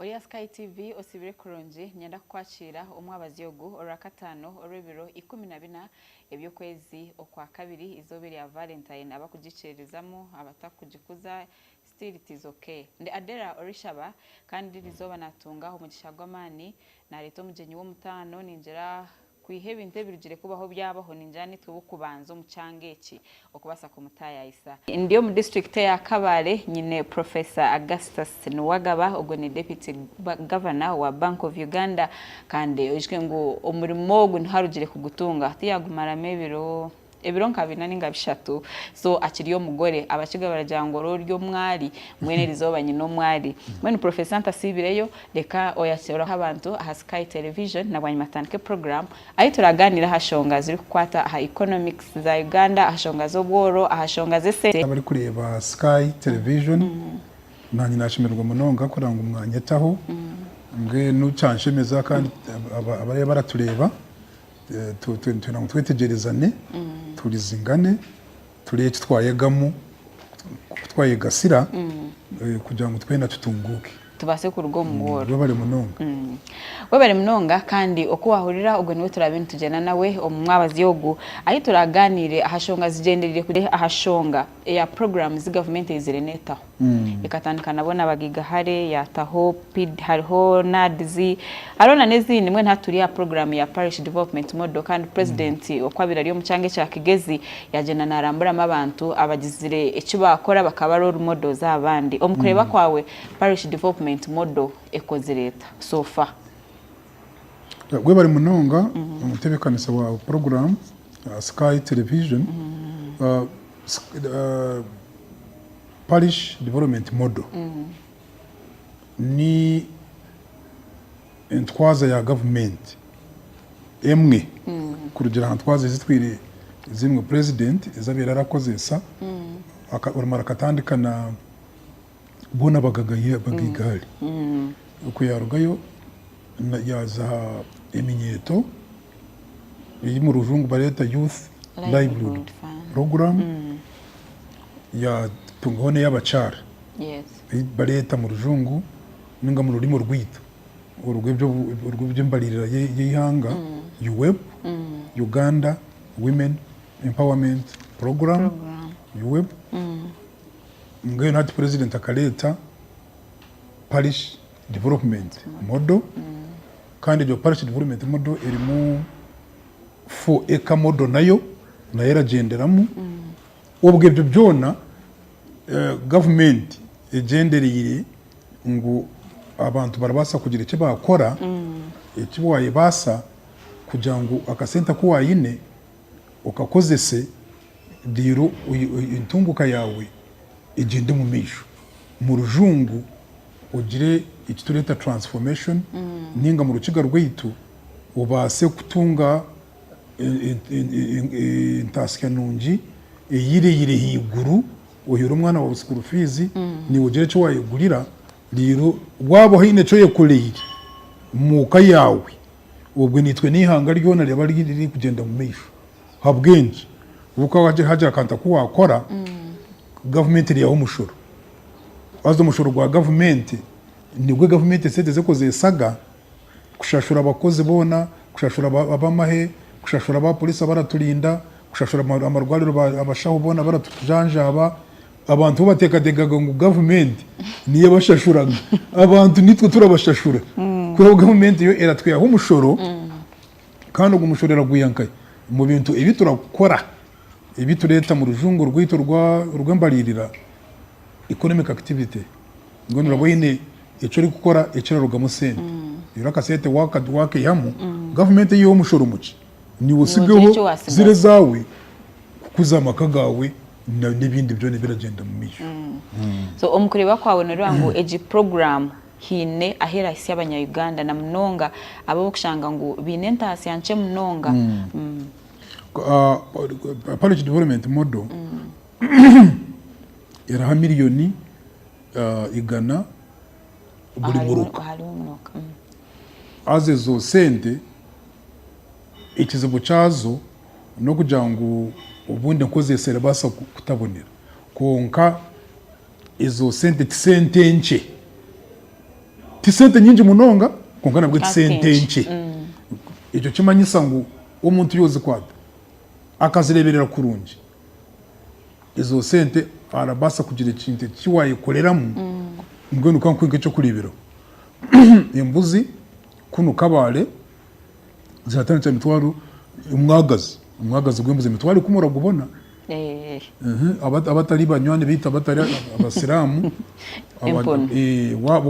Ori aha Sky TV osibire kurungi. Ninyenda kukwakiira omwabazi ogu orwakataano orw'ebiro ikumi na bina eby'okwezi okwa kabiri, izooba erya Valentine abakugikiririzamu, abatakugikuza still it is ok. Ndi Adera orishaba kandi ririzooba natunga omugisha gw'amaani nareeta omugyenyi w'omutaano ningira Kwiha ebintu ebirugire kubaho byabaho, ningira nitwe b'okubanza omu kyanga eki okubaasa kumutaayayisa. Ndi omu disiturikiti eya Kabale, nyine Professor Augustus Nuwagaba, ogwo ni Deputy Governor wa Bank of Uganda, kandi oijuke ngu omurimo ogu niho arugire kugutunga, ahu yaagumaramu ebiro. ebiro nka bina ninga bishatu so akiri omugore abakiga baragira ngu ori ori omwari mbwenu erizooba nyine omwari mbwenu professor ntasiibireyo reka oyakiraho abantu aha sky television nabwanyima tutandike program ahi turaganira aha shonga ziri kukwata aha economics za Uganda aha shonga z'obworo aha shonga z'esente. Abari kureeba sky television nanye nashemererwa munonga kureba ngu mwanyetaho mbwenu kyanshemeza kandi abari baratureeba. Twine ngu twetegyerezane, tuhurizingane, turebe eki twayegamu, oku twayegasira kugira ngu twena tutunguuke. Tubaase kuruga omu bworo. Webare munonga. Webare munonga kandi oku waahurira ogwo niwe turaabe nitugyenda nawe omu mwabazi ogu ahi turaaganiire aha shonga zigyendereire kugira aha shonga eya puroguraamu zi gavumenti eizire neetaho. Ekatandika nabwo nabagaiga hare yataho pid hariho NAADS hariho na nezindi mbwenu hati turi aha program ya parish development model kandi president oku abire ari omu kyanga ekya Kigezi yagyenda naramburamu abantu abagizire eki bakora bakaba role models aha bandi. Omu kureba kwawe parish development model ekozire eta so far? Webare munonga omutebekanisa wa puroguramu aha Sky Television, Parish Development Model ni entwaza ya gavumenti emwe kurugira aha ntwaza ezitwire zimwe purezidenti ezi abaire arakozeesa, orimu arakatandika na. boona bagagayo Abagiligaali. Ku yaarugayo yaaza aha eminyeeto, ei omu rujungu bareeta Youth Livelihood Program, yaatungaho n'ey'abakyara ei bareeta omu rujungu nainga omu rurimi orwaitu orw'eby'embaririra y'eihanga, UWEP, Uganda Women Empowerment Program. Mbwenu hati Purezidenti akareeta Parish Development Model kandi egyo Parish Development Model erimu Four Acre Model nayo nayo eragyenderamu. Obwo ebyo byona gavumenti egyendereire ngu abantu barabaasa kugira eki baakora, eki waayebaasa kugira ngu akasente aku waine, Okakozese diiro entunguka yaawe egyende omu maisho. Omu rujungu ogire eki tureeta transformation nainga omu rukiga rwaitu obaase kutunga entaasya nungi eyireire haiguru oheere omwana waawe school fees naiwe ogire eki wayegurira reero waaba oine eki oyekoreire omu ka yaawe Obwe naitwe n'eihanga ryona ryaba ririkugyenda mumaisho habwenki? Obukaba hagira akantu aku wakora, gavumenti eriyaho omushoro. Haza omushoro gwa gavumenti nigwe gavumenti esente zirikukozesaga kushashura abakozi boona, kushashura abamahe, kushashura abaporisi abaraturinda, kushashura amarwariro abashaho boona abaratujanjaba. Abantu bateekateekaga ngu gavumenti niyo ebashashuraga. Abantu niitwe turabashashura. Kwihaho gavumenti yo eratwihaho omushoro kandi ogwo mushoro eragwiha nka omu bintu ebi turakora, ebi tureeta omu rujungu rwaitu orw'embariirira, economic activity. Mbwenu oraba oine eki orikukora ekirarugamu sente. Reero akasente waakaihamu, gavumenti eihaho omushoro mukye. Naiwe otsigeho ziri ezaawe kukuza amaka gaawe n'ebindi byona ebiragyenda omu maisho. So omu kureeba kwaawe nooreeba ngu egi puroguraamu haine ahu erahitsya abanya Uganda na munonga abo orikushanga ngu baine entaasya nkye munonga? Parish Development Model eraha miriyoni igana buri muruka. Haza ezo sente. Ekizibu kyazo n'okugira ngu obundi enkozi eso erabaasa kutabonera. Kwonka ezo sente ti sente nkye. Ti sente nyingi munonga kwonka nabwe ti sente nkye. Ekyo kimanyisa ngu omuntu yoozikwata akazireeberera kurungi, ezo sente arabaasa kugira ekintu eki waayekoreramu. Mbwenu ka nkuhe nk'eky'okureeberaho, embuzi. Kunu Kabale zatandikira mitwaro omwagazi omwagazi gw'embuzi emitwaro ikumi oragubona abatari banywani baitu abatari abasiramu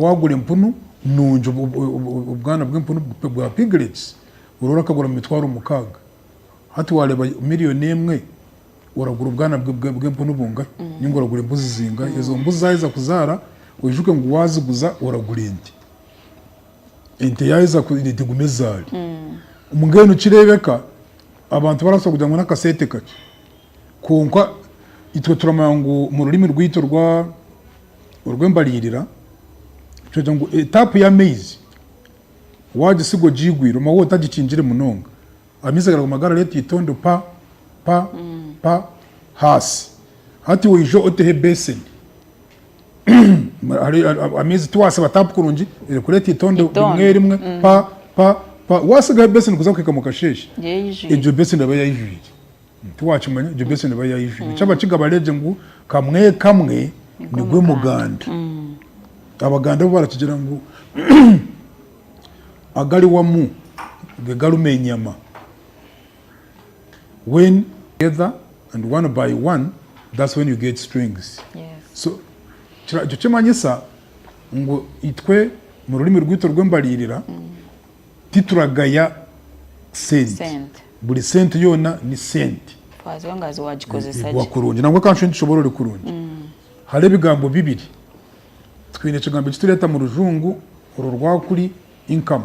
wagura empunu nungi obwana bw'empunu bwa piglets ori orakagura mumitwaro mukaaga hati wareba million emwe oragura obwana bw'empunu bungahi ninga oragura embuzi zingahi ezo mbuzi zaheza kuzara oyijuke ngu waziguza oragura ente. Ente yaaheza kureeba ente guma ezaari. Mbwenu nikireebeka abantu barabaasa kugira ngu n'akasente kakye. Kwonka itwe turamanya ngu omu rurimi rwaitu orw'embariirira, nitweta ngu etaapu y'amaizi waagisiga ogiigwire omaho otagikingire munonga, amaizi garaguma garareetwa eitondo pa pa pa haasi. Hati waija oteho ebeeseni. Amaizi tiwasiba tapu kurungi erikureeta eitondo rimwe rimwe pa pa pa watsigaho ebeseni kuza kuhika mukasheeshe egyo beseni eba yayijwire tiwakimanya egyo beseni eba yayijwire eki abakiga bareegye ngu kamwe kamwe nigwe muganda abaganda bo barakigira ngu agari wamu gegarimu enyama. when together and one by one that's when you get strings so ekyo kimanyisa ngu itwe mu rurimi rwaitu rw'embariirira tituragaya sente buri sente yoona ni sente iguha kurungi nabwo kanshushe nitushobora ori kurungi hariho ebigambo bibiri twine ekigambo ekitureeta mu rujungu orwo rwakuri income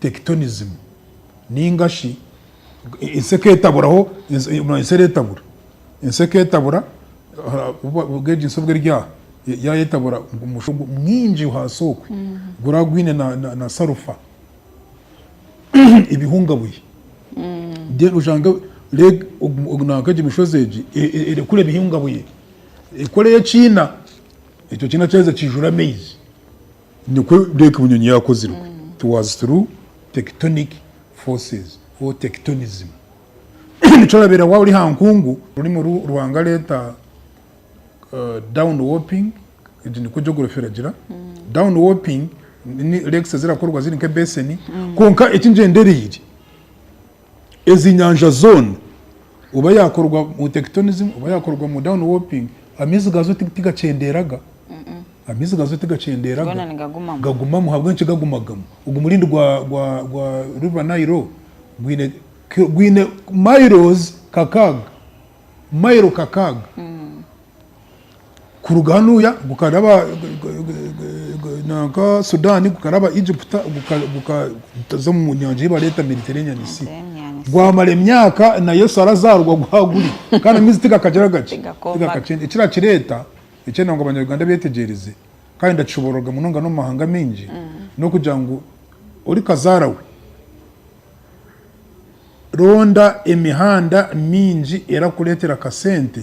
tekitonizimu, nainga shi ensi ekeetaburaho, ensi ereetabura, ensi ekeetabura, obwo egi ensi obu eri aha, yaayetabura omushwa mwingi ahansi okwe guraba gwine na salufa, ebihungabuhi, then oshange nanka egi mishozi egi erekura ebihungabuhi, ekoreyo ekiina, ekyo kiina kyaheza kiijura amaizi. Nikwo Lake Bunyonyi yaakozirwe. It was through tectonic forces or tectonism. Nikyo orabeera waaba ori aha nkungu. Orurimi oru Ruhanga areeta down warping, egi nikwo geography eragira. Down warping ni lakes ezirakorwa ziri nk'ebeseni. Kwonka eki ngyendereire. Ezi nyanja zoona oba yaakorwa mu tekitonizimu oba yaakorwa mu dawuni wopingi, amaizi gaazo tigakyendeeraga. Amaizi gaazo tigakyendeeraga, gagumamu. Ahabw'enki gagumagamu? Ogu murindi gwa riva Nairo gwine mayirozi kakaaga, mayiro kakaaga. Kuruga hanuya gukaraba nanka Sudan gukaraba Egypt gukaza omu nyanja ei bareeta Mediterranean Sea. Gwamara emyaka na Yesu arazarwa guha guri kandi amaizi tigakagira gaki? Tigakakyeenda. Ekirakireta ekyenda ngu abanyaruganda betegyereze kandi ndakishobororga munonga n'omu mahanga mingi n'okugira ngu ori kazara we ronda emihanda mingi erakuretera akasente.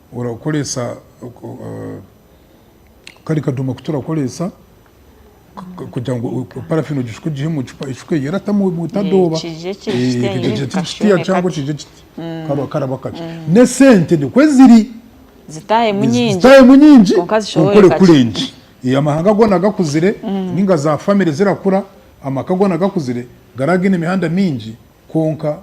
Orakoresa kari kadoma aku turakoresa kugira ngu parafini ogishuke ogihe omu cupa eshuke eyo eratamu etadooba. Kije kitiya cyangwa kije kiti karaba kakye. N'esente nikwo eziri. Zitahemu nyingi. Zitahemu nyingi okore kurengye. Amahanga goona gakuzire ninga za famire zirakura, amaka goona gakuzire, garaba gaine emihanda mingi kwonka.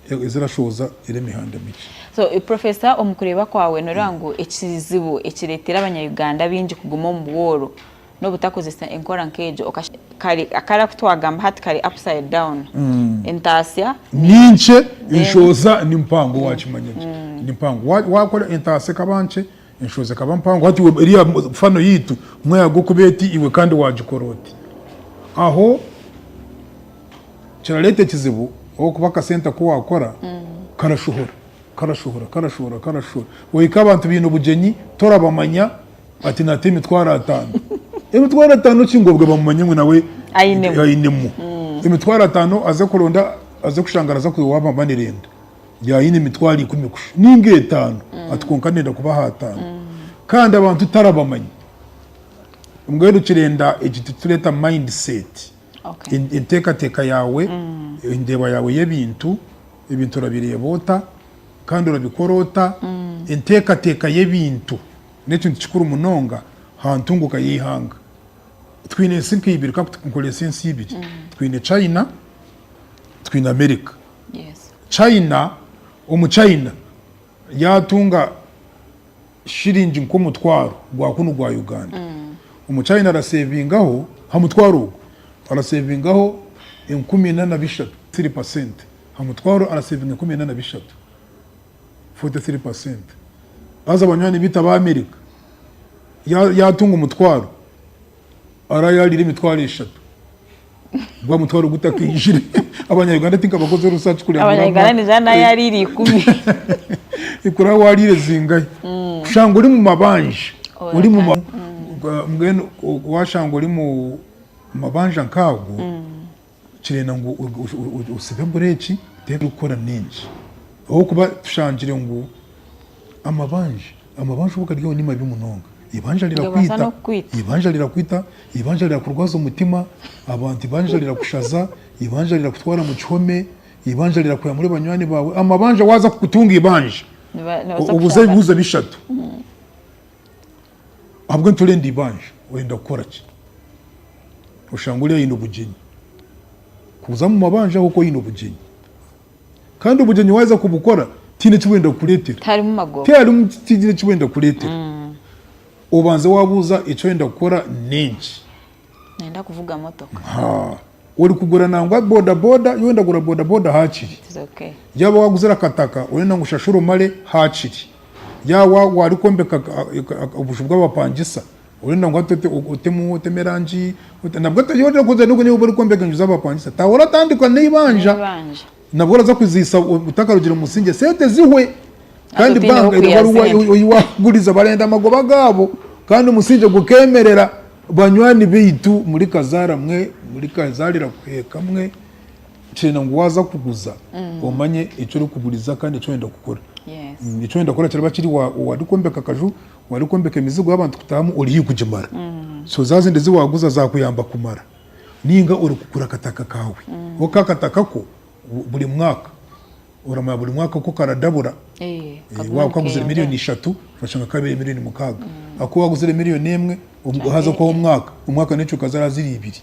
ezirashooza eri emihanda mikye. So Professor omu kureeba kwawe noreeba ngu ekizibu ekireetera abanya-Uganda baingi kuguma omu bwooro n'obutakozesa enkora nk'egyo okasha kare kare aku twagamba hati kare upside down entaasya ni Ni nkye, then enshoza ni mpango, waakimanya gye ni mpango. Wa- Waakora entaasya ekaba nkye Enshozi ekaba mpango. Hati iwe, eriya fano yaitu, mweyaga okuba eti, iwe kandi waagikora oti? Aho kirareeta ekizibu ahabw'okuba akasente aku waakora karashohora, karashohora, karashohora, karashohora. Ohika abantu baine obugyenyi torabamanya, ati naata emitwaro ataano. Emitwaro ataano ki? Ngu obwe bamumanye ngu nawe ainemu. Emitwaro ataano aze kuronda, aze kushanga araza kwiha owaaba amanire enda. Yaaba aine emitwaro ikumi kusha nainga etaano, ati, Kwonka ndenda kubaha ataano. Kandi abantu tarabamanyi. Mbwenu kirenda eki turikureeta mind set, enteekateeka yaawe, endeeba yaawe y'ebintu, ebintu orabireeba ota kandi orabikora ota. Enteekateeka y'ebintu n'ekintu kikuru munonga aha ntunguuka y'eihanga. Twine ensi nka ibiri, ka nkorese ensi ibiri, twine China, twine America. China, omu China yaatunga shiringi nk'omutwaro gwa kunu gwa Uganda, omu China araseevingaho, ha mutwaro ogwo, araseevingaho enkumi ina na bishatu, three percent. Ha mutwaro araseevinga enkumi ina na bishatu, forty three percent. Haza banywani baitu ab'Amerika, yaatunga omutwaro, Ara yarire emitwaro eshatu. Gwa mutwaro gutakaijire. Abanya Uganda tinka bakoze research kureba. Abanya Uganda ni zana yarire ikumi. Ikura warire zingai. Mm. Kushanga uri mu mabanja. Oh, uri mu mabanja. Mm. Mbwenu washanga uri mu mabanja nkago. Mm. Nikirenda ngu osibe bureeki, teeka ebirikukora nyingi. Ahabw'okuba tushangire ngu amabanja, amabanja obu gari aho ni mabi munonga. Eibanja rirakwita, eibanja rirakwita, eibanja rirakurwaza omutima, abantu eibanja rirakushaza, eibanja rirakutwara mu kihome, eibanja rirakwiha omuri banywani baawe. Amabanja waaza kutunga eibanja, obuze ebibuuzo bishatu. Ahabwe nturenda ibanja oyenda kukora ki? Oshanga ori ayine obugyenyi kuza omu mabanja ahabwokuba oyine obugyenyi kandi obugyenyi waheza kubukora tihine ki bwenda kukuretera. Tiharimu tigine ki bwenda kukuretera. Obanze wabuza eki oyenda kukora nenki. Nenda kuvuga motoka. Ha. Orikugura nangwa bodaboda, yowe ndagura bodaboda hakiri. It is okay. Yaaba waaguzire akataka, orenda ngu oshashure omare hakiri. Yaaba wa- waarikwombeka ka- a- ka- a- obuju bw'abapangisa, orenda ngu hati ote- o- otemu otemu erangi, ote- nabwo ota- yowe orenda kuza n'ogu- n'obu orikwombeka enju z'abapangisa, taawe oratandika n'eibanja. N'eibanja. Nabwo oraza kuziisa otakarugire omu musingye sente zihwe kandi banga oyi wakuguriza barenda amagoba gaabo kandi omusingye gukemerera banywani baitu muri kazaara mwe muri kazaarira kuheeka mwe nkyenda ngu waza kuguza mm. omanye eki orikuguriza kandi eki oyenda kukora eki oyenda kukora kiraba kiri wari kwombeka akaju wari kwombeka emizigo y'abantu kutahamu ori haihi kugimara mm. so za zindi ezi waguza zakuyamba kumara ninga ori kugura akataka kawe kwonka akataka ko buri mwaka oramanya buri mwaka ku karadabura waba okaguzire miriyoni ishatu okashanga kabire miriyoni mukaga aku waguzire miriyoni emwe haza okwaho omwaka omwaka nekyo kazara ziri ibiri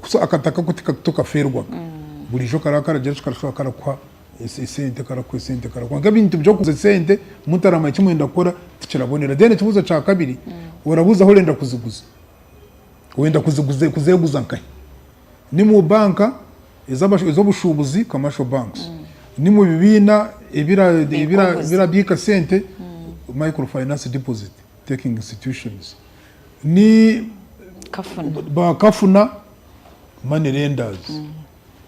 so akataka ko tokaferwaga burijo karaba karagira ki karashobora karakuha esente karakuha esente kwonka ebintu byo kuguza esente mutaramanya eki mwenda kukora tikirabonera then ekibuzo kya kabiri orabuza ahu orenda kuziguza. Oyenda kuzeguza nkahi? Ni mu banka ez'obushubuzi, commercial banks, ni mu bibiina ebirabiika sente, micro finance deposit taking institutions, ni ba kafuna, money lenders,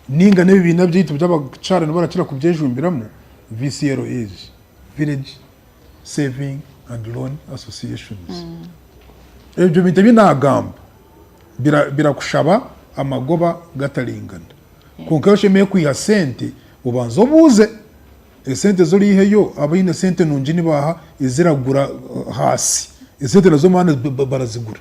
ninga n'ebibiina byaitu ebi abakyara nibo barakira kubyejumbiramu, VCLAs, village Saving and Loan Associations. Ebyo bintu ebi naagamba birakushaba amagoba gataringana. Kwonka ebi oshemereire kwiha sente, obanze obuuze esente ezi oriiheyo abaine sente nungi nibaaha eziragura haasi. Esente nazo maani barazigura.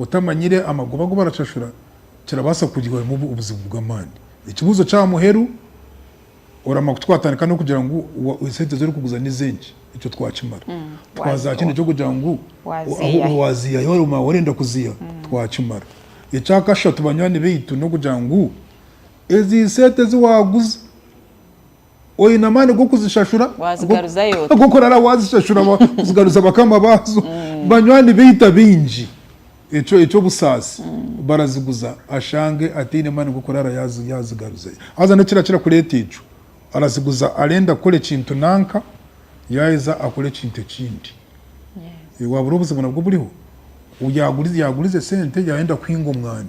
Otamanyire amagoba agu baracashura kirabaasa kukugira ohemu obuzibu bw'amaani. Ekibuuzo ky'aha muheru, Oramanya ku twatandika n'okugira ngu esente ezi orikuguza n'ez'enki? Ekyo twakimara. Twaza kindi ky'okugira ngu waaziiha hi waaba orenda kuziiha? Twakimara. Ekya kashatu banywani baitu n'okugira ngu ezi sente ezi waaguza oine amaani g'okuzishashura, g'okurara waazishashura, kuzigaruza bakama baazo. Banywani baitu abaingi eky'obusaasi baraziguza ashange ataine maani g'okurara yaazigaruzayo. Haza niki ekirakira kureeta ekyo? Araziguza arenda kukora ekintu nanka, yaaheza akora ekintu ekindi. Waabura obuzibu nabwo buriho? Yaaguriza esente yaayenda kuhinga omwani,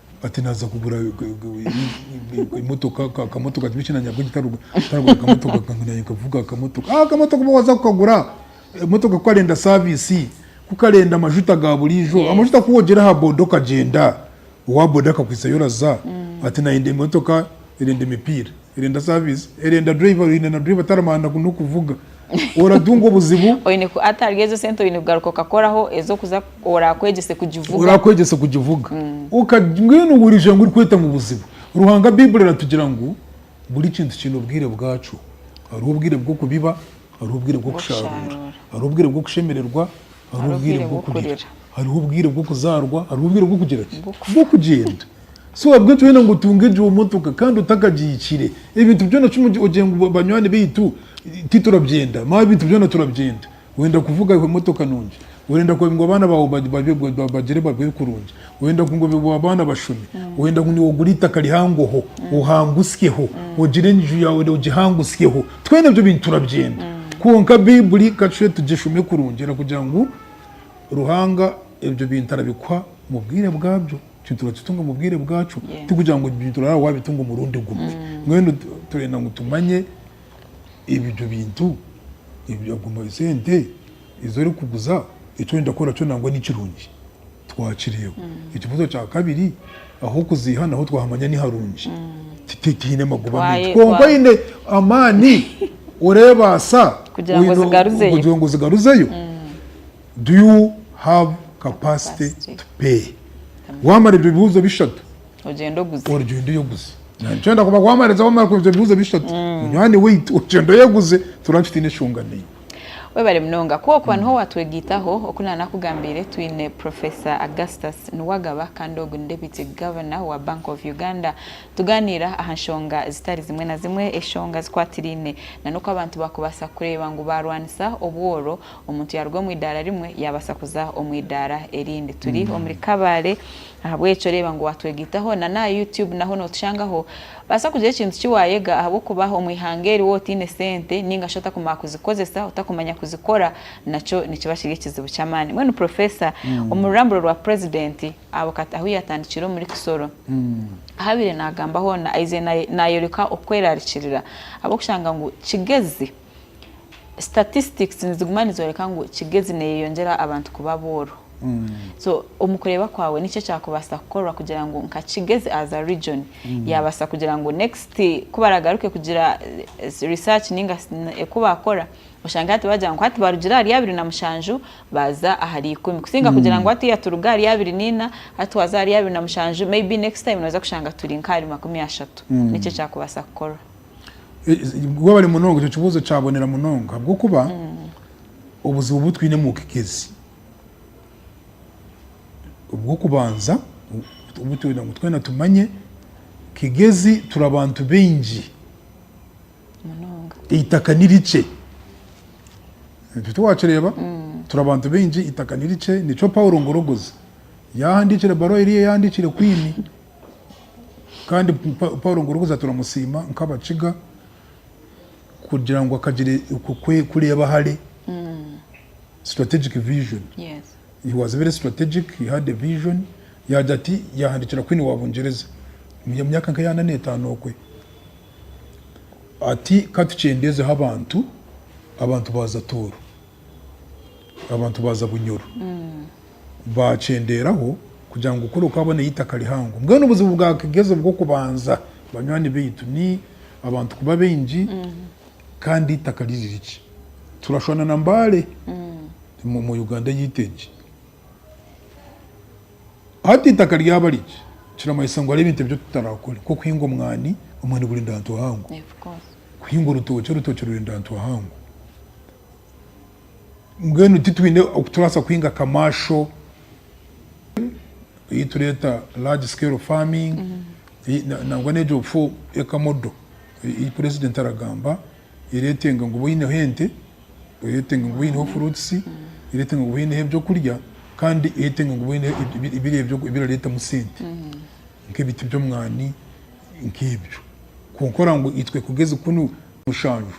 Ati Naaza kugura emotoka akamotoka kiba eki nanyabwenge ntaragura akamotoka kange nanye nkavuga akamotoka ah, akamotoka oba waza kukagura emotoka kukarenda saavisi kukarenda amajuta ga buriijo amajuta ku wogyere aha boda okagyenda owa boda akakwitsayo oraza ati nanye emotoka erenda emipiira Erenda service erenda driver oyine na driver taramanya nokuvuga oratunga obuzibu oyine ku atarya ezo sente oyine kugaruka okakoraho ezokuza orakwegyese kugivuga orakwegyese kugivuga oka mbwenu orija ngu orikweta ngu buzibu Ruhanga bible eratugira ngu buri kintu kiine obwire bwakyo hariho obwire bwokubiba hariho obwire bwokusharura hariho obwire bwokushemererwa Hariho obwire bw'okurira. Hariho obwire bw'okuzaarwa. Hariho obwire bw'okugira ki? Bw'okugyenda. So ahabw'ekyo waayenda ngu otunge egyo motoka kandi otakagihikiire. Ebintu byona kimwe ogire ngu banywani baitu titurabyenda. Maawe ebintu byona turabyenda. Wenda kuvuga emotoka nungi. Orenda ngu abaana baawe bagire babeho kurungi. Oyenda ngu ngobe bwa baana bashome? Oyenda ngu nyowe ogure itaka rihangoho ohangusyeho, ogire enju yaawe ogihangusyeho? Twena ebyo bintu turabyenda. Kwonka Baiburi ka tushube tugishome kurungi erakugira ngu Ruhanga ebyo bintu arabikuha omu bwire bwabyo. Ekintu orakitunga omu bwire bwakyo. Tikugira ngu ebyo bintu oraabe waabitunga omurundi gumwe. Mbwenu turenda ngu tumanye ebyo bintu, sente. Ezi orikuguza, eki orenda kukora kyo nangwa ni kirungi. Twakireeba. Ekibuuzo kya kabiri, ah'okuziiha naho twahamanya ni harungi. Tihaine magoba maingi. Kwonka oine amaani, oreebaasa kugira ngu ozigaruzeyo. Do you have capacity to pay? Waamara ebyo bibuuzo bishatu, ogyende oyeguze. Nikyo ndakubaasa kuba waamara ebyo bibuuzo bishatu, munywani waitu, ogyende oyeguze, turamutse tutaine nshonga n'emwe. Webare munonga ku okuba niho watwegaitaho. Oku nanakugambiire twine Professor Augustus Nuwagaba kandi ogu ni Deputy Governor wa Bank of Uganda. Tuganiira aha nshonga zitari zimwe na zimwe, eshonga zikwatiraine na n'oku abantu bakubaasa kureeba ngu barwanisa obworo, omuntu yaruga omu idaara rimwe yabasa kuza omu idaara erindi. Turi omuri Kabale Ahabw'ekyo reeba ngu waatwegaitaho na n'aha Youtube naho nootushangaho. Baasa kugira ekintu ki waayega ahabw'okuba omu ihanga eri wooba otaine sente nainga shi otakumanya kuzikozesa, otakumanya kuzikora nakyo nikiba kiri ekizibu ky'amaani. Mbwenu Professor, omu ruramburo rwa Purezidenti aho ahu yaatandikiire omuri Kisoro, ahu abaire naagamba hoona aize naayoreka okweraarikirira ahabw'okushanga ngu kigezi. statistics niziguma nizoreka ngu kigezi neyeyongyera abantu kuba abooro so omu kureeba kwawe niki ekyakubaasa kukorwa kugira ngu nka kigezi as a region yaabaasa kugira ngu next ku baragaruke kugira eh, research ninga si- n- eku baakora oshange hati bagira ngu hati barugire ahari abiri na mushanju baaza ahari ikumi kusinga kugira ngu hatiiya turuga ahari abiri naina hati waaza ahari abiri na mushanju maybe next time nooza kushanga turi nk'ahari makumi ashatu niki ekyakubaasa kukorwa Gwabare munonga ekyo kibuzo kyabonera munonga habwokuba obuzibu butwine mubugigezi obwokubanza obutwenda ngu twena tumanye kigezi turi abantu baingi itaka nirikye ekyo tiwakireba turi abantu baingi itaka nirikye nikyo Paulo Ngorogoza yahandikira ebaruwa eriya yahandikire kwini Kandi Paulo ngu orikuza turamusiima nk'Abakiga kugira ngu akagire kureeba hare, strategic vision. He was very strategic, he had a vision. Yaagira ati yaahandiikira Queen wa Bungyereza omu myaka nka eya ana n'etaano okwe ati ka tukyendezeho abantu, abantu baaza Tooro. abantu baaza Bunyoro baakyendeeraho kugira ngu kuri okwaboneyo eitaka rihango. Mbwenu obuzibu bwakageza obw'okubanza banywani baitu ni abantu kuba baingi kandi eitaka riri rikye. Turashwana na Mbale omu Uganda yaitu egi. Hati eitaka ryaba rikye kiramanyisa ngu hariho ebintu ebi tutarakore nk'okuhinga omwani, omwani gurenda ahantu hahango, kuhinga orutookye, orutookye rurenda ahantu hahango. Mbwenu titwine oku turabaasa kuhinga kamaasho ei tureeta large scale farming nangwa n'egyo bufo eka modo ei purezidenti aragamba ereetenga ngu obe oineho ente, ereetenga ngu obe oineho furuutisi, ereetenga ngu obe oineho ebyokurya kandi ereetenga ngu obe oineho biri ebyo ebirareetamu sente nk'ebiti by'omwani nk'ebyo. Kwonka oraabe ngu itwe kugeza kunu. mushanju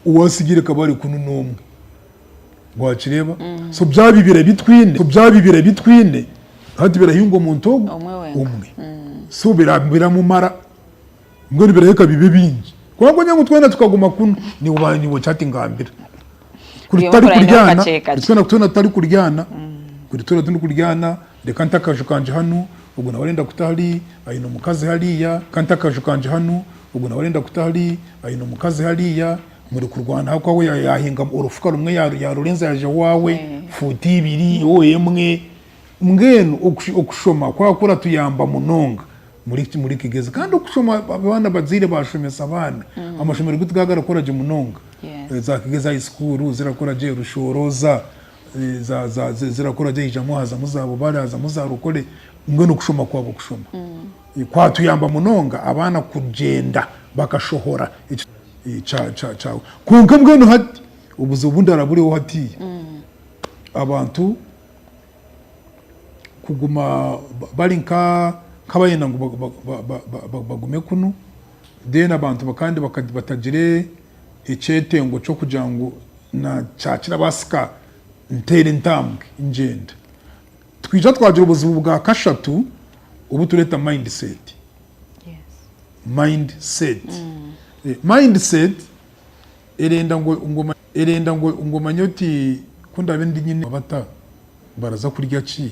owatsigire ka bari kunu n'omwe. Wakireeba? So byaba bibiri ebi twine, so byaba bibiri ebi twine, hati birahinga omuntu ogu omwe. So biramumara mbwenu birahika bibe bingi. Kwonka ogira ngu twena tukaguma kunu, niwe niwe okira ati ngambira. Kuri tutari kuryana, kuri twena twena tutari kuryana, kuri twena turi kuryana. Reka nte akaju kangye hanu, ogwo nawe arenda kuta hari, aine omukazi hariya. Ka nte akaju kangye hanu, ogwo nawe arenda kuta hari, aine omukazi hariya. Muri kurwana ha ku awe yahinga orufuka rumwe yarurenza yaja owaawe, fuuti ibiri, oh emwe. Mbwenu okushoma kwaba kuratuyamba munonga muri kigezi. Kandi okushoma abaana abazaire bashomesa abaana, amashomero gaitu gaba garakora gye munonga. Za kigezi high school zirakora gye, rushooroza, zirakora zihamu hazamu za bubare hazamu za rukore mbwenu kushoma kwabo kushoma mm. kwatuyamba munonga abaana kugyenda bakashohora kyawe kwonka mbwenu hati obuzibu bundara buriho hati mm. abantu kuguma bari nkabayenda ngu bagume kunu then abantu kandi batagire ekyetengo ky'okugira ngu nakyakira baasika nteera entambwe ngyenda. Twija twagira obuzibu bwa kashatu obu tureeta mind set. Mind set. Mind set erenda ngu erenda ngu ngu omanye oti ku ndaabe ndi nyine bata, baraza kurya ki,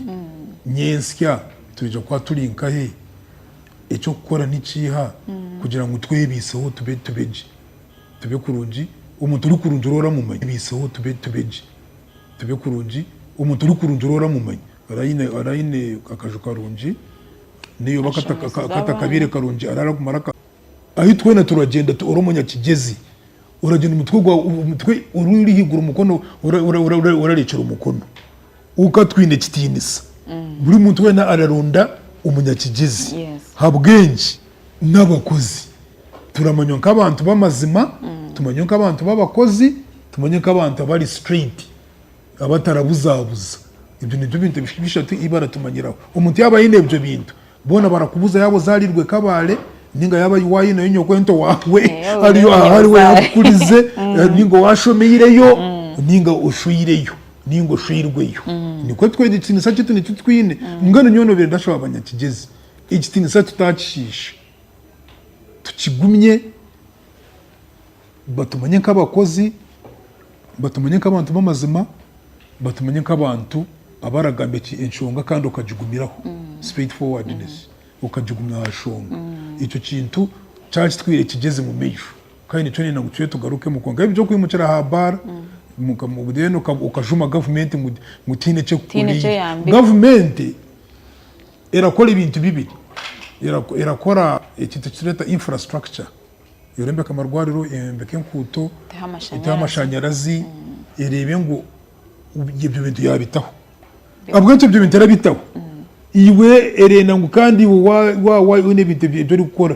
nyensya twija kuba turi nkahe. Eky'okukora ni kiiha kugira ngu twebeiseho tube tube gye? Tube kurungi omuntu orikurungi ori oramumanya. Twebeiseho tube tube gye? Tube kurungi omuntu orikurungi ori oramumanya. Ori ori aine akaju karungi nari oba Ashemezibwe katakabaire abandi. karungi ari araguma araka. Ahi twena turagyenda tu ori omunyakigyezi. Oragyenda omutwe gwawe omutwe ori ori haiguru mukono ora ora ora orarekyera omukono. Kwonka twine ekitiinisa. Buri muntu weena araronda omunyakigyezi habw'enki? N'abakozi. Turamanywa nk'abantu b'amazima, tumanywe nk'abantu b'abakozi, tumanywe nk'abantu abari straight, abatarabuzaabuza. Ebyo nibyo bintu bishatu ebi baratumanyiraho. Omuntu yaaba aine ebyo bintu, Boona barakubuza yaaba ozaariirwe e Kabale nainga yaaba waayineyo nyokwento waawe ariyo ariwe yaakukurize nainga waashomeireyo nainga oshweireyo nainga oshweirweyo. Nikwo twegi ekitiinisa kyaitu nikyo twine. Mbwenu nyowe noobiire ndashaba banyakigyezi ekitiinisa tutaakishiisha, tukigumye. batumanye nk'abakozi, batumanye nk'abantu b'amazima, batumanye nk'abantu abaragamba enshonga kandi okagigumiraho, mm. straight forwardness mm. okagigumya aha nshonga mm. ekyo kintu kyakitwire kigeze mu maisho kandi nikyo nina ngu tuye tugarukemu kwonka ebyo okwimukira aha bara then okajuma gavumenti ngu tiine ekyekukora gavumenti Erakora ebintu bibiri, erakora ekintu ekitureeta infrastructure, eyombeka amarwariro, eyombeka enkuuto, eteho amashanyarazi, ereebe ngu ebyo bintu yabitaho. Ahabw'enki ebyo bintu erabitaho? Iwe erenda ngu kandi iwe waaba oyine ebintu ebi orikukora,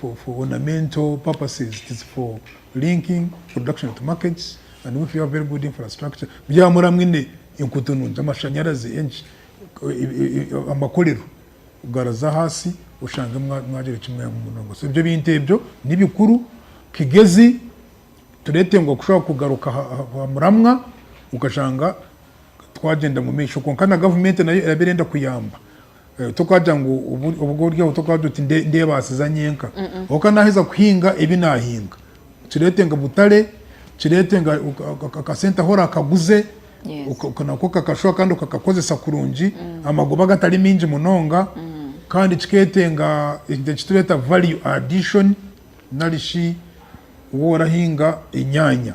for ornamental purposes, tis for linking production to markets and if you have very good infrastructure byaba muraba mwine enkuuto nungi, amashanyarazi, enki, amakorero garaza ahansi oshange mwagira eki mwehemu munonga. So ebyo ebintu ebyo ni bikuru kigezi turetengwa kushobora kugaruka aha muramwa okashanga twagyenda omu maisho kwonka na gavumenti nayo eraba erenda kuyamba. Eh, Tokaagira ngu obu- obu ori aho tokaagira oti "Nde- ndeebaasiza nyenka oka naaheza kuhinga ebi naahinga kireete nka butare kireete nka oka- oka- akasente ahu oraakaguze Yes. oka- oka- nako kakashuha kandi okakakozesa kurungi amagoba agatari maingi munonga kandi kikeetenga ekintu eki tureeta value addition nari shi worahinga enyaanya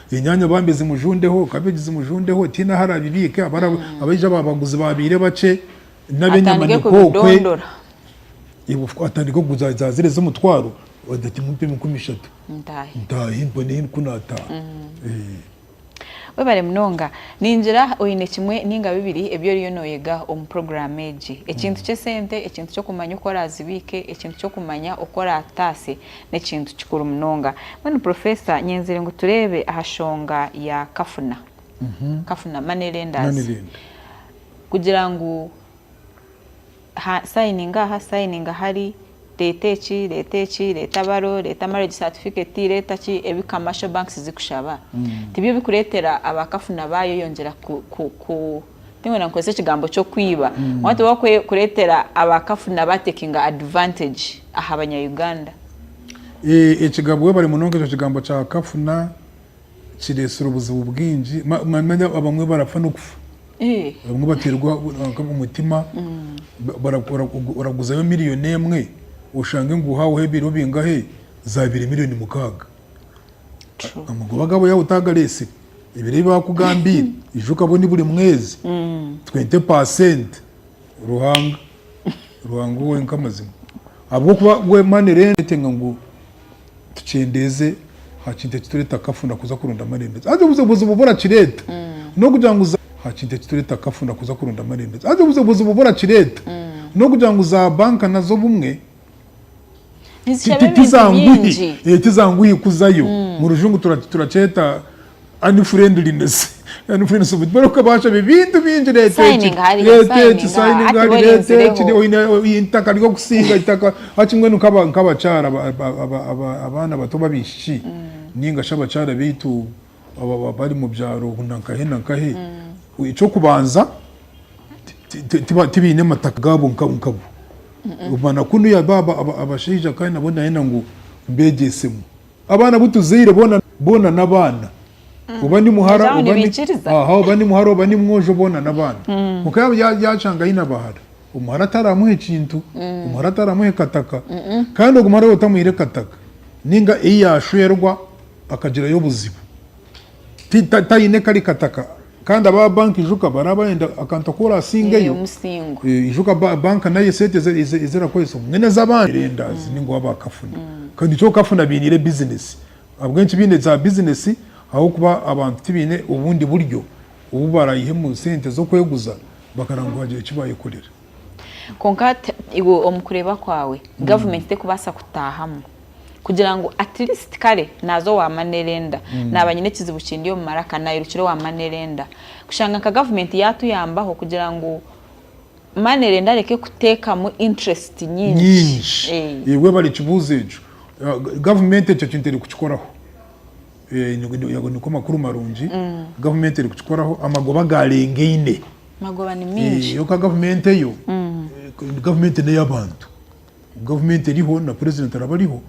Enyaanya bambi zimujundeho, kabeegi zimujundeho, tihaine ahu araabibiike, abaija ba baguzi baabaire bakye, n'ab'enyama ni kwokwe. Atandike kuguza za ziri ez'omutwaro, ati mumpemu enkumi ishatu ntaahe mbone ku naataaha. Webare munonga. Ningira oine kimwe nainga bibiri ebi oriyo nooyega omu puroguraamu egi. Ekintu ky'esente, ekintu ky'okumanya oku oraazibiike, ekintu ky'okumanya oku oraataase. n'ekintu kikuru munonga. Mbwenu Professor nyenzire ngu tureebe aha shonga ya kafuna, kafuna, money lenders, kugira ngu ha sayininga aha, sayininga hari, reeta eki, reeta eki, reeta baro, reeta marriage certificate, reeta ki, ebi commercial banks zikushaba tibyo bikureetera aba kafuna baayeyongyera ku, ku, ku. Tinkwenda nkozese ekigambo ky'okwiba konka tibarikureetera abakafu na ba taking advantage aha banya-Uganda. Ekigabwe bari munonga ekyo kigambo kya kafuna kiretsire obuzibu bwingi manya abamwe barafa nokufa abamwe baterwa omutima oraguzayo million emwe oshange ngu ohaweho ebiro bingahe zabire million mukaaga. amagoba gaabo yaaba otaagareetsire, ebiro ebi baakugambiire ija okabone buri mwezi twete paasenti, Ruhanga Ruhanga ou wenka mazima. Ahabw'okuba we mani ereetenga ngu tukyendeeze aha kintu ekitureeta kafuna kuza kuronda amarembezi. Haza obuze obuzibu obu orakireeta n'okugira ngu za aha kintu ekitureeta kafuna kuza kuronda amarembezi. Haza obuze obuzibu obu orakireeta n'okugira ngu zaabanka nazo obumwe. tizanguhi kuzayo hmm. murujungu turakyeta unfriendliness barikubaashaba ebintu bingi itaka ryokusiiga itaka hati mbwenu nk'abakyara abaana bato b'abaishiki hmm. ninga shi abakyara baitu baba bari mu byaro na nkahe na nkahe, eky'okubanza tibaine mataka gaabo nkabo. Omwana kunu yaaba abashaija kandi nabwo nayenda ngu mbeegyesemu. Abaana abu tuzaire boona n'abaana. Oba ni muhara oba ni mwojo boona n'abaana. Kwonka yaashanga aine abahara, omuhara ataramuhe kintu, omuhara ataramuhe kataka. Kandi ogwo muhara otamuhaire kataka, nainga ei yaashwerwa. akagirayo obuzibu taine kari kataka kandi aba banka ijuka baraba bayenda akantu aku orasingeyo ijuka banka nayo esente ezi erakoresa obumwe nezabandi lenders ninga owa ba kafuna kandi kyo kafuna bainire business ahabwenki baine za business ahabwokuba abantu tibaine obundi buryo obu barayihemu sente zokweguza bakaraba ngu hagire ekibayekorera. Kwonka iwe omu kureeba kwawe gavumenti terikubaasa kutaahamu kugira ngu atirisiti kare naaza owaamani erenda naaba aine ekizibu kindi omu maraka nairukira owaamani erenda. Kushanga nka gavumenti yaatuyambaho kugira ngu mani erenda areke kuteekamu intirisiti nyingi. Nyingi. Webare ekibuuzo ekyo. Gavumenti ekyo kintu erikukikoraho. Ago nigo makuru marungi. Gavumenti erikukikoraho amagoba gaarengaine. Magoba ni mingi. Yo ka gavumenti eyo, gavumenti n'ey'abantu. Gavumenti eriho na purezidenti araba ariho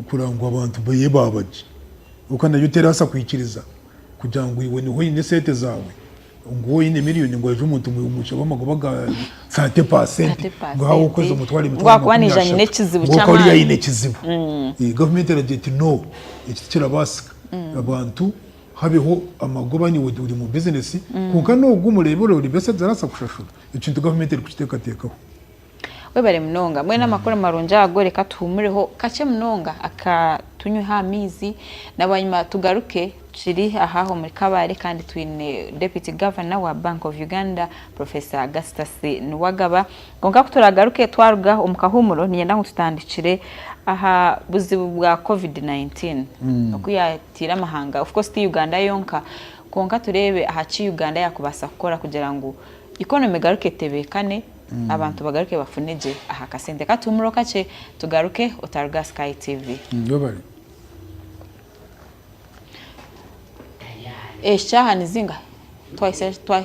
kureba ngu abantu beye baaba gye. Kwonka nayo teraasa kwikiriza kugira ngu iwe niho oine esente zaawe, ngu waaba oine miriyoni ngu haije omuntu ngu omushabe amagoba ga saate paasente, ngu haaba okwezi omutware emitwaro makumi ashatu, ngu akaba ariyo aine ekizibu. Gavumenti eragira eti no, eki tikirabaasika. Abantu habeho amagoba nyowe ndi ori omu bizinesi kwonka n'ogu omureeba ori ori beside arabaasa kushashura. Ekintu gavumenti erikukiteekateekaho. Webare munonga. Mbwenu amakuru marungi ago reka tuhumureho kakye munonga aka tunyweho amaizi na bwanyima tugaruke tukiri aha omuri kabare kandi twine deputy governor wa bank of Uganda Professor Augustus Nuwagaba kwonka kuturagaruke twaruga omu kahumuro ninyenda ngu tutandikire aha buzibu bwa covid 19 oku ya Teera amahanga, of course ti Uganda yonka, kwonka tureebe aha ki Uganda yaakubaasa kukora kugira ngu economy egaruke etebeekane, abantu bagaruke bafune gye aha kasente. Ka tuhumureho kakye, tugaruke otaruga aha Sky TV. Eshaaha ni zingahi? Twahitsya, twa.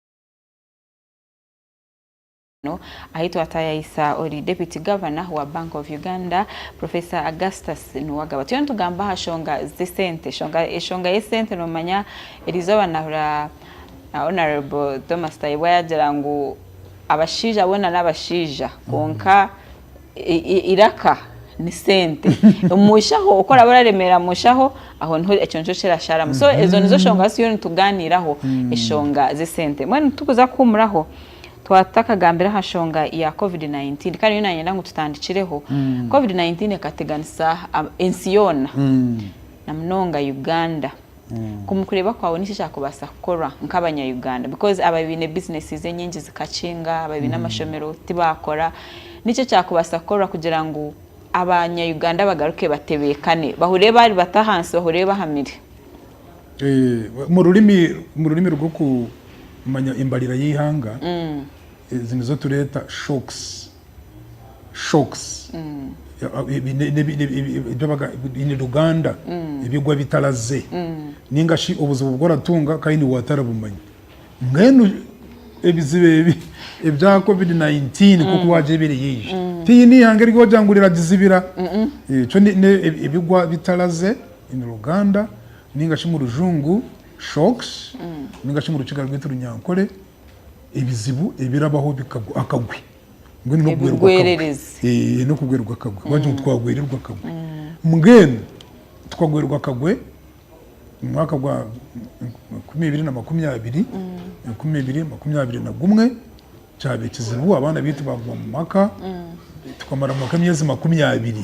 ahi twatayayisa ori Deputy Governor wa Bank of Uganda Professor Augustus Nuwagaba. Turiyo nitugamba aha shonga z'esente. Eshonga y'esente nomanya erizoba nahura uh, Honorable Thomas Tayebwa yagira ngu abashaija bona n'abashaija kwonka iraka ni sente omushaho oku oraba oraremerera mushaho aho niho ekyo nikyo kirasharamu so mhm. ezo nizo shonga zituriyo nituganiiraho mhm. eshonga z'esente mbwenu tukuza kuhumuraho twatakagambira aha shonga ya covid-19 kandi yo nanyenda ngu tutandikireho mhm. covid-19 ekateganisa ensi yoona na munonga uganda Omukureeba kwaawe niki ekyakubaasa kukorwa nkabanya Uganda because ababiine businesses enyingi zikakinga, ababiine amashomero tibakora, niki ekyakubaasa kukorwa kugira ngu abanya Uganda bagaruke batebeekane bahure baari bato ahansi bahure bahamire? Omururimi rwokumanya embarira yeihanga, ezi nizo tureeta shocks shocks in Luganda ebigwa bitaraze ningashi obuzibu obu oratunga kandi niiwe watarabumanya. Mbwenu ebizibu ebi ebya covid 19 nk'oku waagyebire yaija tihaine eihanga eri waagira ngu riragizibira. Ekyo ebigwa bitaraze in Luganda ningashi omu rujungu shocks ningashi omu Rukiga rwaitu Runyankore. ebizibu ebirabaho bikagwa akagwi mbwenu n'okugwerwa akagwi Ebigwererezi. Eh, n'okugwerwa akagwi wagira ngu twagwererwa akagwi mbwenu tukagwerwa akagwe omu mwaka gwa enkumi ibiri na makumi abiri enkumi ibiri makumi abiri na gumwe kyaba ekizibu abaana baitu bagwa mu maka tukamaramu maka emyezi makumi abiri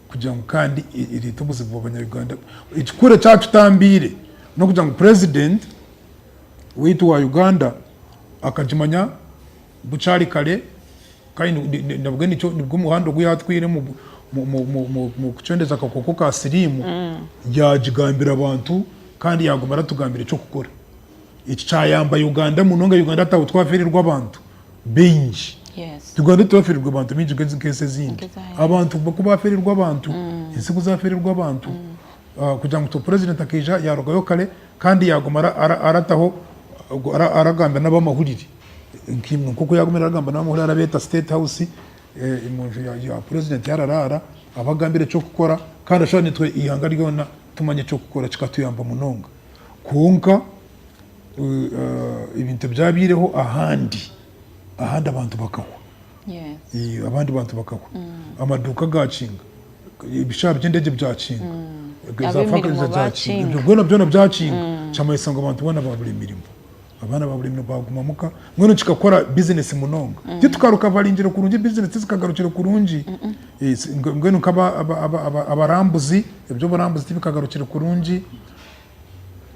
kugira ngu kandi ereete obuzibu bw'abanya-Uganda. Ekikuru ekyatutambiire n'okugira ngu president waitu wa Uganda akagimanya bukyari kare kandi nabwe nikyo nibwo muhanda ogu yaatwire omu mu kucwendeza akakooko ka siriimu, yaagigambira abantu kandi yaaguma aratugambiire eky'okukora. Eki kyayamba Uganda munonga. Uganda hataho twaferirwe abantu baingi. Uganda titwaferirwe abantu baingi nk'ensi ezindi. Abantu ku baferirwe abantu, mm. ensi ku zaferirwe abantu mm. ah, kugira ngu purezidenti akaija yarugayo kare kandi yaguma arataho aragambira n'abamahurire nk'oku yagumire aragamba n'abamahurire arabeeta state house eh, mu nju ya purezidenti yararaara abagambira eky'okukora kandi ashobora nitwe ihanga ryona tumanya eky'okukora kikatuyamba munonga Kwonka ebintu ebyabaireho ahandi, ahandi abantu bakahwa. Abandi bantu bakahwa. Amaduuka gaakinga, ebishaara by'endeegye byakinga, zaafaakariza zaakinga, ebyo byona byona byakinga, kyamanyisa ngu abantu boona baabura emirimo. Abaana baabura emirimo baaguma muka, mbwenu kikakora bizineesi munonga. Titukarukabaringire kurungi, bizineesi tizikagarukire kurungi. Mbwenu nk'abarambuzi, eby'oburambuzi tibikagarukire kurungi.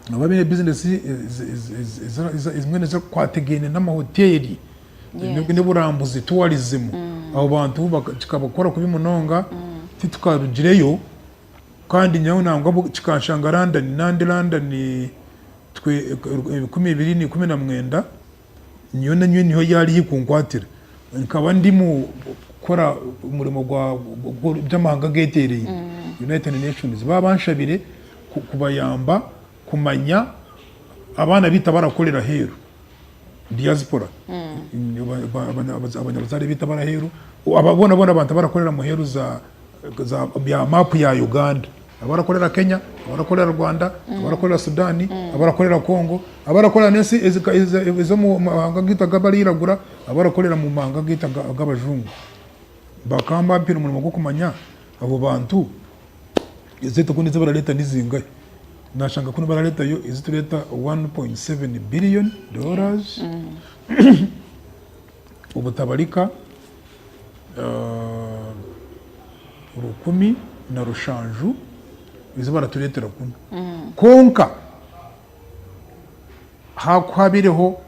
Noba baine bizinesi ezimwe ezikwatagaine n'amahoteeri, n'oburambuzi, tourism, mm. abo bantu kikabakora kubi munonga mm. titukarugireyo kandi nyawe nangwa kikanshanga London nandi London ebikumi bibiri na ikumi na mwenda Nyowe na nyowe niho yaari hikunkwatira. Nkaba ndi mu kukora omurimo by'amahanga ageteereire, United Nations. Ba banshabire kubayamba kumanya abaana baitu abarakorera aheeru, diaspora, abanyabuzaare baitu abari aheeru, abo boona boona abantu abarakorera aheeru za bya maapu ya Uganda, abarakorera Kenya, abarakorera Rwanda, abarakorera Sudan, abarakorera Congo, abarakorera n'ensi ez'omu mahanga gaitu ag'abarairagura, abarakorera mu mahanga gaitu ag'abajungu, bakaba bampaire omurimo gw'okumanya abo bantu esente kunu ezi barareeta nizingahi. Nashanga kunu barareetayo ezi tureeta 1.7 billion dollars. obutabarika rukumi na rushanju ezi baratureetera kunu. Kwonka haakuhaabireho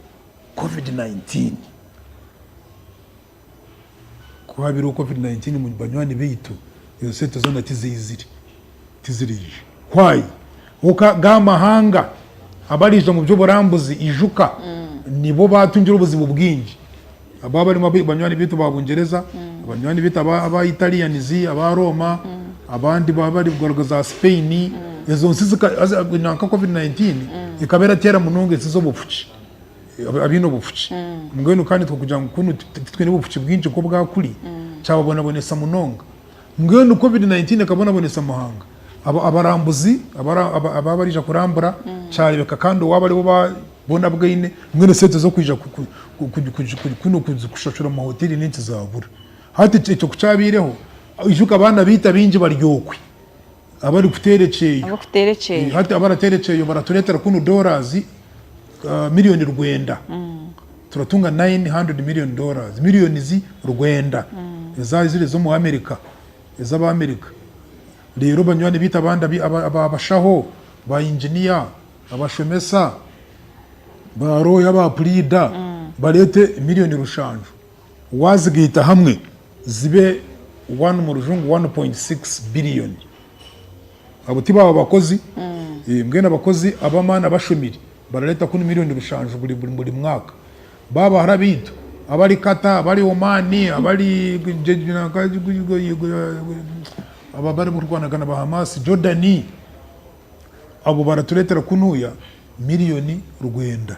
covid nineteen, kuhaabireho covid nineteen banywani baitu ezo sente zoona tizaizire. tiziraije. Why? Ahabw'okuba ga amahanga abaraija omu by'oburambuzi, ijuka, nibo baatungire obuzibu bwingi. Aba barimu aba banywani baitu aba Bungyereza, banywani baitu aba aba Italians, aba Rooma, abandi ba bari kugaruka za Spain. Ezo nsi zika haza nanka Covid nineteen ekaba erateera munonga ensi z'obufuki, aba abaine obufuki. Mbwenu kandi tikugira ngu kunu ti titwine bufuki bwingi nk'obwa kuri, kyababonabonesa munonga. Mbwenu covid 19 ekabonabonesa amuhanga, abarambuzi ababa barija kurambura kyarebeka kandi owaba aribo bona bwine mbwenu esente zokwija kushashura omu mahoteri ninki zabura. Hati ekyo kukyabeireho, ijuka abaana beitu abingi bari okwe. Abarikuteera ekyeyo. Hati abarateera ekyeyo baratureetera kunu dollars million rwenda. Turatunga nine hundred million dollars, millions rwenda ezaizire z'omu America, ez'Abaamerika. Reero banywani baitu abandi aba bashaho, ba engineer, abashomesa, ba looya, ba puliida bareete million rushanju. Waazigaita hamwe zibe one mu rujungu one point six billioni. Abo ti baaba bakozi? Mbwenu abakozi ab'amaani abashomire barareeta kunu milioni rushanju buri buri buri mwaka. Ba bahara baitu abari Qatar, abari Oman, abari aba bari kurwanagana ba Hamas, Jordan, abo baratureetera kunuuya milioni rwenda.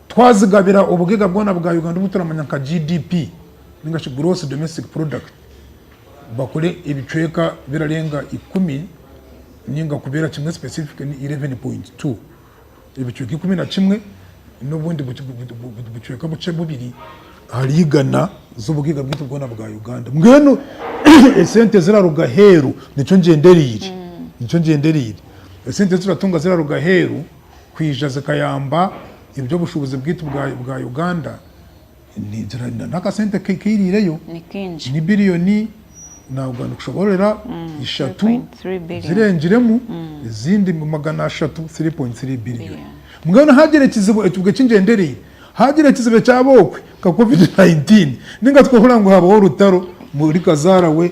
Twazigabira obugaiga bwona bwa Uganda obu turamanya nka GDP ninga shi Gross Domestic Product, bakore ebicweka birarenga ikumi ninga kubera kimwe specific ni eleven point two, ebicweka ikumi na kimwe n'obundi bucweka buce bubiri ahari igana z'obugaiga bwaitu bwona bwa Uganda. Mbwenu esente eziraruga aheeru nikyo ngyendereire, nikyo ngyendereire, esente ezi turatunga ziraruga aheeru. kwija zikayamba eby'obushubuzi bwaitu bwa Uganda n'akasente keirireyo ni biriyoni navuga nikushoborora ishatu zirengiremu ezindi magana ashatu, three point three billion. Mbwenu hagira ekizibu ekibwe kingyendereire, hagira ekizibu ekyaba okwe nka covid nineteen ninga tukahurira ngu habaho orutaro omuri kazarawe.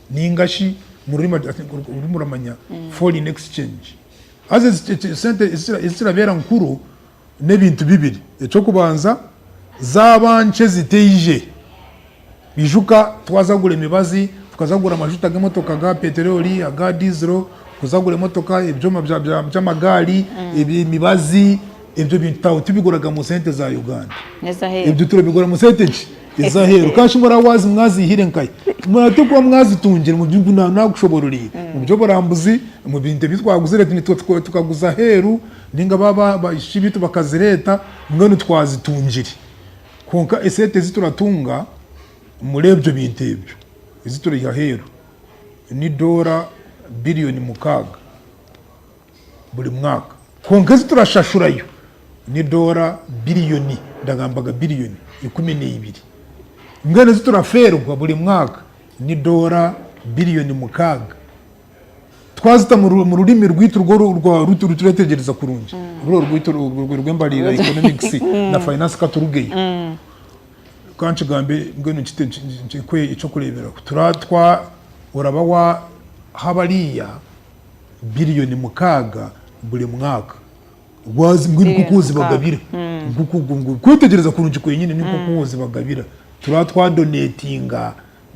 Ninga shi mu rurimi agira ati, orurimi oramanya, foreign exchange. Haza esente ezikirabeera nkuru n'ebintu bibiri. Eky'okubanza, zaaba nkye ezitaije. Ijuka twaza kugura emibazi, tukaza kugura amashuta g'emotoka aga peteroli, aga dizero, kuza kugura emotoka, ebyoma by'amagaari, emibazi, ebyo bintu tibiguraga mu sente za Uganda. Ebyo turabigura mu sente ki? Eza aheeru kandi shi muraba waazi mwaziihire nkahi? Muraba tikuba mwazitungire mu bibuga na naakushoboororeire, mu by'oburambuzi, omu bintu ebi twaguzire nitwe tukaguza aheeru nainga baaba abaishiki baitu bakazireeta mbwenu twazitungire. Kwonka esente ezi turatunga omuri ebyo bintu ebyo ezi turaiha aheeru ni doora biriyooni mukaaga. buri mwaka. Kwonka ezi turashashurayo ni doora biriyoni, ndagambaga biriyoni, ikumi na ibiri. Mbwenu ezi turafeerwa buri mwaka ni doora biriyoni mukaaga. Twazita mu rurimi rwaitu rw'oruturetegyereza kurungi, ruri orwaitu orw'embarira, economics na finance ka turugeyo. Ka nkigambe mbwenu nkite ekyokureeberaho. Oraba waha bariya biliyoni mukaaga buri mwaka. Gwazi mbwenu nk'oku Biliyoni ozibagabira. mukaaga. Nk'oku gu- gu- Kwetegyereza kurungi kwenyini ni nk'oku ozibagabira. Turaba twadoneetinga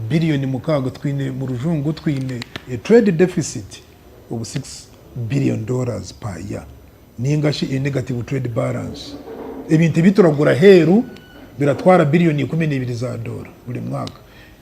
biliyoni mukaaga, twine mu rujungu twine a trade deficit of six billion dollars per year ninga shi a negative trade balance. Ebintu ebi turagura aheeru biratwara biliyoni ikumi na ibiri za doora buri mwaka.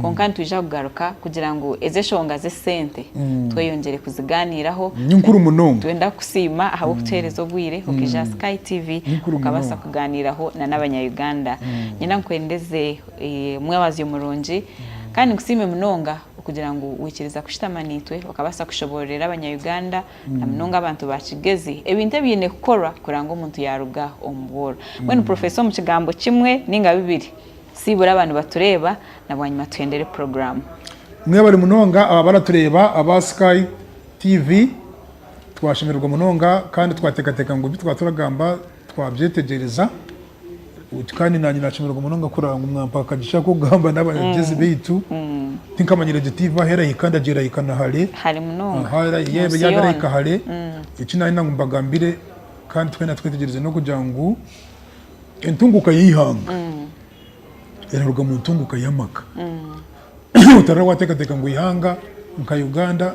Kwonka nitwija kugaruka kugira ngu ezi eshonga z'esente tweyongyere kuzigaaniiraho. Ni nkuru munonga. Twenda kukusiima ahabw'okutuheereza obwire okaija aha Sky TV okabaasa kugaaniiraho na n'abanya-Uganda. Niinyenda nkwendeze omwebazyo murungi kandi nkusiime munonga okugira ngu waikiriza kushutama naitwe okabaasa kushoboororera abanya-Uganda na munonga abantu ba Kigezi ebintu ebiine kukorwa kuranga omuntu yaaruga omu bworo. Mbwenu Professor omu kigambo kimwe nainga bibiri Sibura aba nibatureeba na bwanyima tuhendere puroguramu. Mwebale munonga aba baratureeba aba Sky TV. Twashemererwa munonga kandi twateekateeka ngu ebi twaba turagamba twabyetegyereza. Kandi naanye naashemererwa munonga kurora ngu mwampa akagisha k'okugamba n'abagyezi baitu. Tinkamanyire egi tiivi ahu erahika nda gye erahika na hare. Hare munonga. Aha era yaaba erahika hare. Eki naanye nangumba gambire kandi twena twetegyereze n'okugira ngu Entunguka y'eihanga eraruga mu ntunguka y'amaka. Otaraba wateekateeka ngu eihanga nka Uganda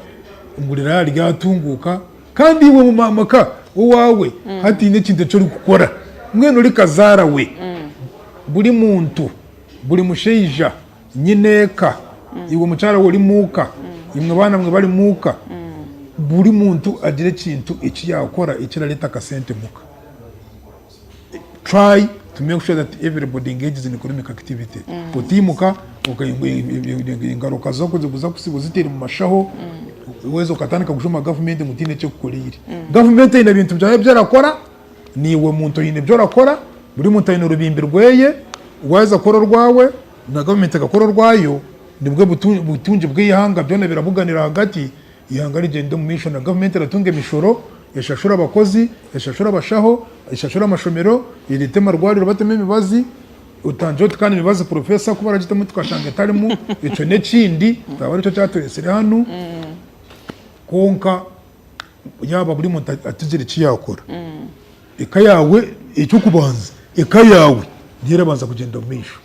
ngu riraaba ryatunguuka kandi iwe omu maka owaawe hataine ekintu eki orikukora. Mbwenu ori kazaara we, buri muntu, buri mushaija, nyine eka, iwe mukyara we ori muuka, imwe baanamwe bari muuka, buri muntu agira ekintu eki yaakora ekirareeta akasente muka. Try to make sure that everybody engages in economic activity. Ku otiimuka oka- e- e- e- engaruka zo kuza kuza kusiiba oziteire mu mashaho weza okatandika kushoma gavumenti ngu tiine eki ekukoreire gavumenti eine ebintu byayo ebi erakora niiwe muntu oine ebi orakora buri muntu aine orubimbi rweye waaheza kukora orwawe na gavumenti ekakora orwayo nibwo butu- butungi bw'eihanga byona birabuganira ahagati Eihanga rigyende omu maisho na gavumenti eratunga emishoro, eshashure abakozi, eshashure abashaho, eshashure amashomero, ereete amarwariro batemu emibazi, otangire oti kandi emibazi professor ku baragitemu tukashanga etarimu ekyo n'ekindi kikaba nikyo kyatureetsire hanu kwonka yaaba buri muntu atigire eki yaakora eka yaawe eky'okubanza eka yaawe niyo erabanza kugyenda omu maisho.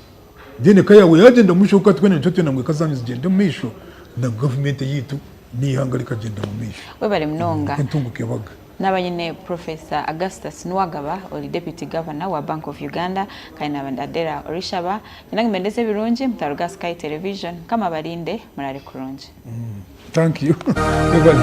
Then eka yaawe yaagyenda omu maisho, kwonka twena nitwetwenda ngu eka zaanyu zigyende omu maisho na gavumenti eyaitu n'eihanga rikagyenda omu maisho. Webare munonga. Nikwo ntunguka ebaga. Naaba nyine Professor Augustus Nuwagaba ori Deputy Governor wa Bank of Uganda kandi naaba ndi Adela Orishaba. Nyine ngu mbendeze ebirungi mutaruga aha Sky Television. Mukama abarinde. Muraare kurungi. Thank you. Webare.